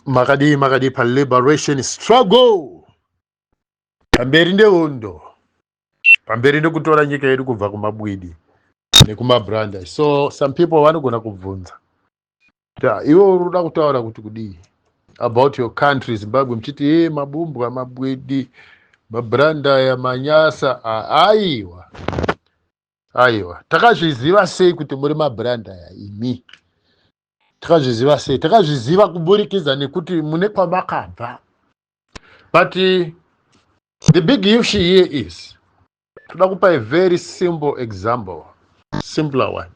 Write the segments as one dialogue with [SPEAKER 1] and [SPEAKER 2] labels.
[SPEAKER 1] makadii makadii paliberation struggle pamberi nehondo pamberi nekutora nyika yedu kubva kumabwidi nekumabranda so some people vanogona kubvunza ta iwe uri kuda kutaura kuti kudii about your country zimbabwe muchiti e mabumbwa mabwidi mabranda aya manyasa aiwa aiwa takazviziva sei kuti muri mabranda aya imi takazviziva sei takazviziva kuburikidza nekuti mune kwamakabva but the big issue here is toda kupa a very simple example simpler one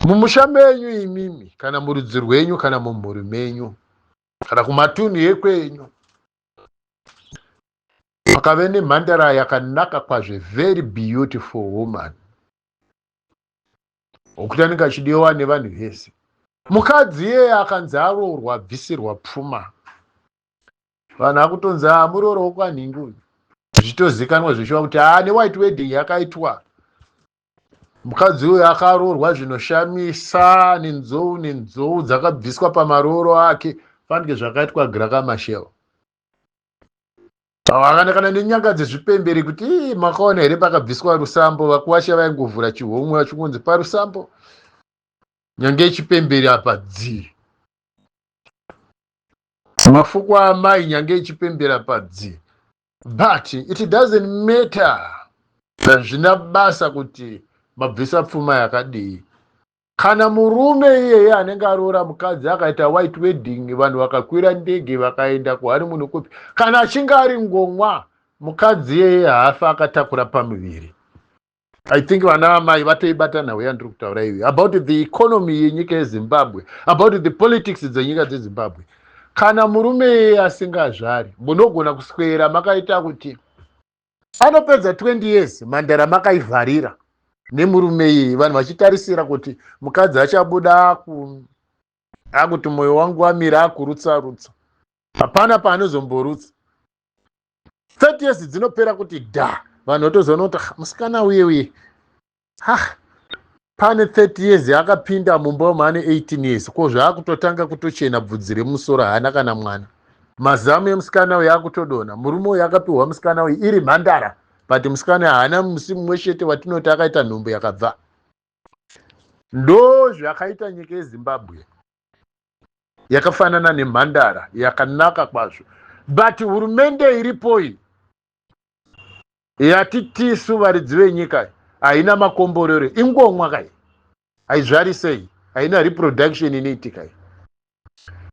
[SPEAKER 1] mumusha menyu imimi kana murudzi rwenyu kana mumhuri menyu kana kumatunhu ekwenyu pakave nemhandara yakanaka kwazve very beautiful woman okutani kachidiwa nevanhu vese mukadzi iyeye akanzi aroorwa abvisirwa pfuma vanhu akutonzi a ah, murooro wokwanhingi uyu zvichitozikanwa zvichiva kuti haa ah, newhite wedding yakaitwa mukadzi uyu akaroorwa zvinoshamisa nenzou nenzou dzakabviswa pamarooro ake fanike zvakaitwa grakamashel kana kana nenyanga dzezvipemberi kuti ii makaona here pakabviswa rusambo vakuwasha vaingovhura chihomwe vachingonzi parusambo nyanga yechipemberi apa dzii mafuko amai nyanga yechipemberi apa dzii but it doesn't matter hazvina basa kuti mabvisa pfuma yakadii kana murume iyeye anenge aroora mukadzi akaita white wedding vanhu vakakwira ndege vakaenda kuharimuni kupi kana achinge ari ngomwa mukadzi iyeye haafa akatakura pamuviri i think vana vamai vatoibata nhau yandiri kutaura iyoyi about the economy yenyika yezimbabwe about the politics dzenyika dzezimbabwe kana murume iyeye asingazvari munogona kuswera makaita kuti anopedza 20 years mhandara makaivharira nemurume iyi vanhu vachitarisira kuti mukadzi achabuda akuti mwoyo wangu wamira akurutsa rutsa hapana paanozomborutsa 30 years dzinopera kuti da vanhu votozoona kuti musikana uye uye ha pane 30 years akapinda mumba wemu ane 18 years ko zvaakutotanga kutochena bvudzi remusoro haana kana mwana mazamu emusikana uyu akutodona murume uyu akapiwa musikana uyu iri mhandara but musikana haana musi mumwe chete watinoti akaita nhumbu yakabva ndo zvakaita nyika yezimbabwe yakafanana nemhandara yakanaka kwazvo but hurumende iripo iyi yati tisu varidzi venyika haina makomborero ingomwa kai haizvarisei haina reproduction inoitika i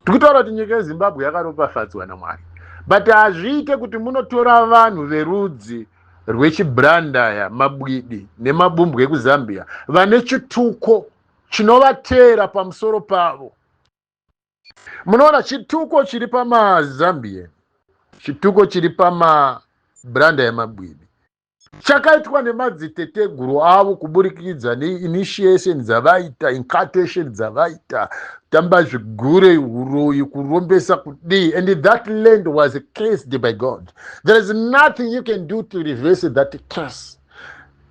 [SPEAKER 1] tikutaura kuti nyika yezimbabwe yakaropafadzwa namwari but hazviite kuti munotora vanhu verudzi rwechibrandaya mabwidi nemabumbwe ekuzambia vane chituko chinovateera pamusoro pavo munoona chituko chiri pamazambian chituko chiri pamabranda yemagwidi chakaitwa nemadziteteguru avo kuburikidza neinitiation dzavaita incartation dzavaita tamba zvigure uroyi kurombesa kudii and that land was cased by god there is nothing you can do to reverse that case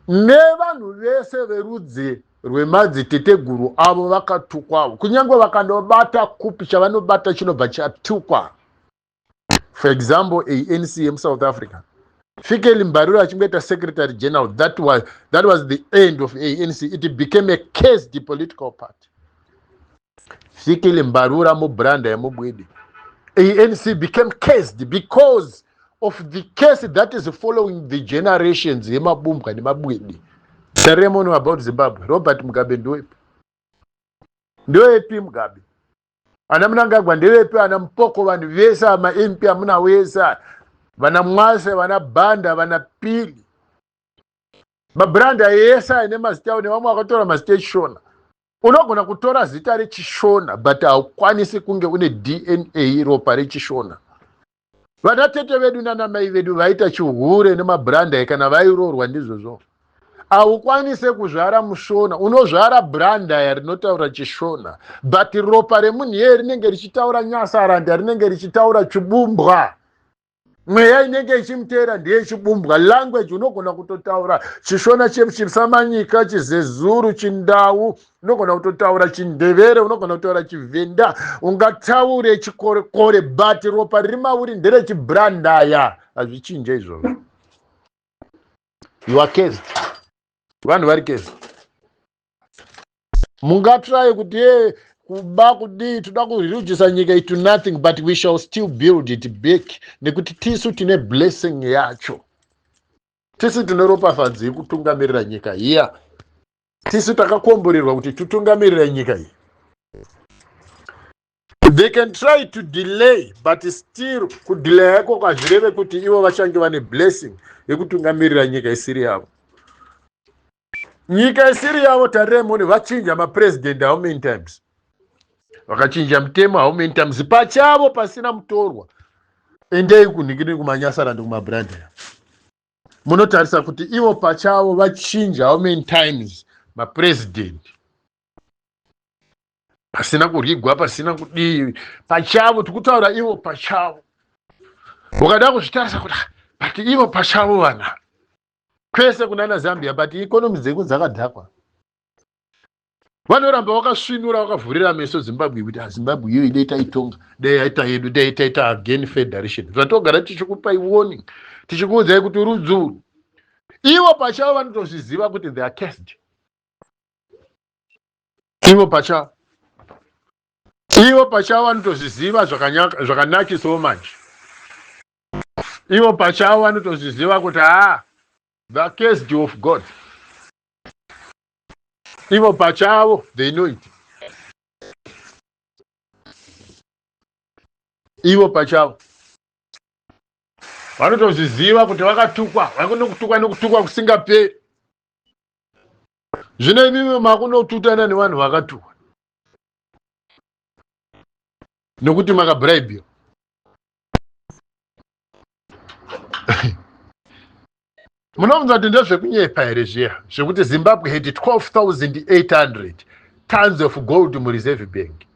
[SPEAKER 1] nevanhu vese verudzi rwemadziteteguru avo vakatukwawo kunyange vakanobata kupi chavanobata chinobva chatukwa for example anc yemusouth africa fikeli mbariro achingoita secretary general that was, that was the end of anc it became a cased political party Fikile Mbarura Mubranda Yamubwidi. ANC became cursed because of the case that is following the generations yemabumbwa nemabwidi. Ceremony about Zimbabwe. Robert Mugabe ndoepi? Ndoepi Mugabe? Ana Mnangagwa ndevepi? Ana Mpoko vanhu vese ama MP amuna wese vana Mwase vana Banda vana Pili mabrand ayo ese aine mazita ayo nevamwe vakatora mazita echishona unogona kutora zita rechishona but haukwanisi kunge une dna ropa rechishona vana tete vedu nana mai vedu vaita chihure nemabrandai kana vairoorwa ndizvozvo haukwanise kuzvara mushona unozvara brandaya rinotaura chishona but ropa remunhu yeye rinenge richitaura nyasaranda rinenge richitaura chibumbwa mweya inenge ichimuteera ndiye ichibumbwa language unogona kutotaura chishona chisamanyika chizezuru chindau unogona kutotaura chindevere unogona kutaura chivhenda ungataure chikorekore but ropa riri mauri nderechibrandaya hazvichinje izvozvo yuakezi vanhu vari kezi mungatry kuti ye eh, kuba kudii toda kurujisa nyika itu nothing but we shall still build it back nekuti tisu tine blessing yacho tisu tine ropafadzo yekutungamirira nyika iya tisu takakomborerwa kuti tutungamirira nyika iyi they can try to delay but still kudelaya yako kwazvireve kuti ivo vachange vane blessing yekutungamirira nyika isiri yavo nyika isiri yavo tarirai mone vachinja mapresident how many times vakachinja mutemo how many times pachavo pasina mutorwa endei kunhikini kumanyasarandi kumabrandea munotarisa kuti ivo pachavo vachinja how many times mapresident pasina kuryigwa pasina kudii pachavo tikutaura ivo pachavo ukada kuzvitarisa kuti ah, but ivo pachavo vana kwese kunana zambia but ikonomi dzeko dzakadhakwa vanoramba vakasvinura vakavhurira meso zimbabwe kuti azimbabwe ah, iyo inoita itonga dai yaita yedu dai taita again federation zvatogara tichikupai warning tichikuudzai kuti rudzuru ivo pachavo vanotozviziva kuti they are cased ivo pachavo ivo pachavo vanotozviziva zvakanakisawo manje ivo pachavo vanotozviziva kuti haa the cased of god ivo pachavo they know it ivo pachavo vanotozviziva kuti vakatukwa vakunokutukwa nekutukwa kusingaperi zvino imimi makunotutana nevanhu vakatuwa nokuti makabraibiwa munobvunza kuti ndezvekunyepa here zviya zvekuti zimbabwe had 12800 tons of gold mureserve bank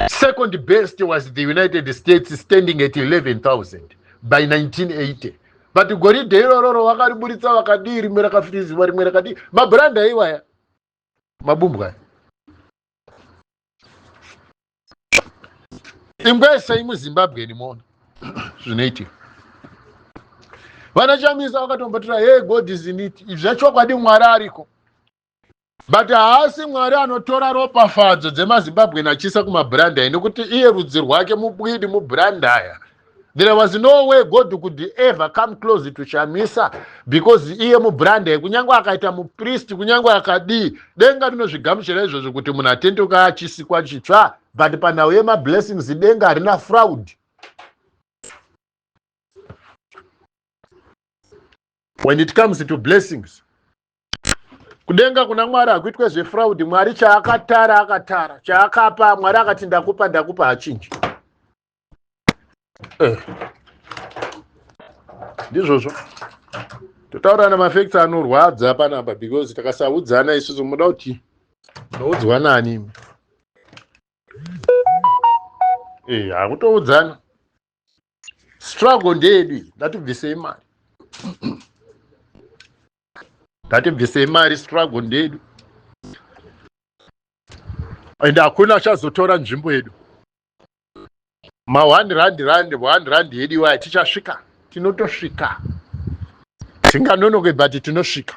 [SPEAKER 1] Second best was the United States standing at 11,000 by 1980. But goridhe irororo vakariburitsa vakadii rimwe rakafiriziwa rimwe rakadii mabranda iwaya mabumbwa ingwesei muzimbabwe ndimoona zvinoitika vanachamisa vakatombotora hey god is in it izvi zvachokwadi mwari ariko but haasi mwari anotora ropafadzo dzemazimbabwe nachisa kumabrandaya nekuti iye rudzi rwake mubwidi mubrandaya there was no way god could ever come close to shamisa because iye mubrandaya kunyange akaita mupristi kunyange akadii denga rinozvigamuchira izvozvo kuti munhu atendoka achisikwa chitsva but panhau yemablessings denga harina fraud when it comes to blessings kudenga kuna mwari hakuitwe zvefraudi mwari chaakatara akatara chaakapa mwari akati ndakupa ndakupa hachinji eh. ndizvozvo totaura namafacts anorwadza panapa because takasaudzana isusu muda kuti noudzwa nani eh, hakutoudzana struggle ndeyedu iyi ngatibvisei mari ngatibvisei mari struggle ndeyedu and hakuna achazotora nzvimbo yedu ma one rand rand one rand yedu iwaya tichasvika tinotosvika tinganonoke but tinosvika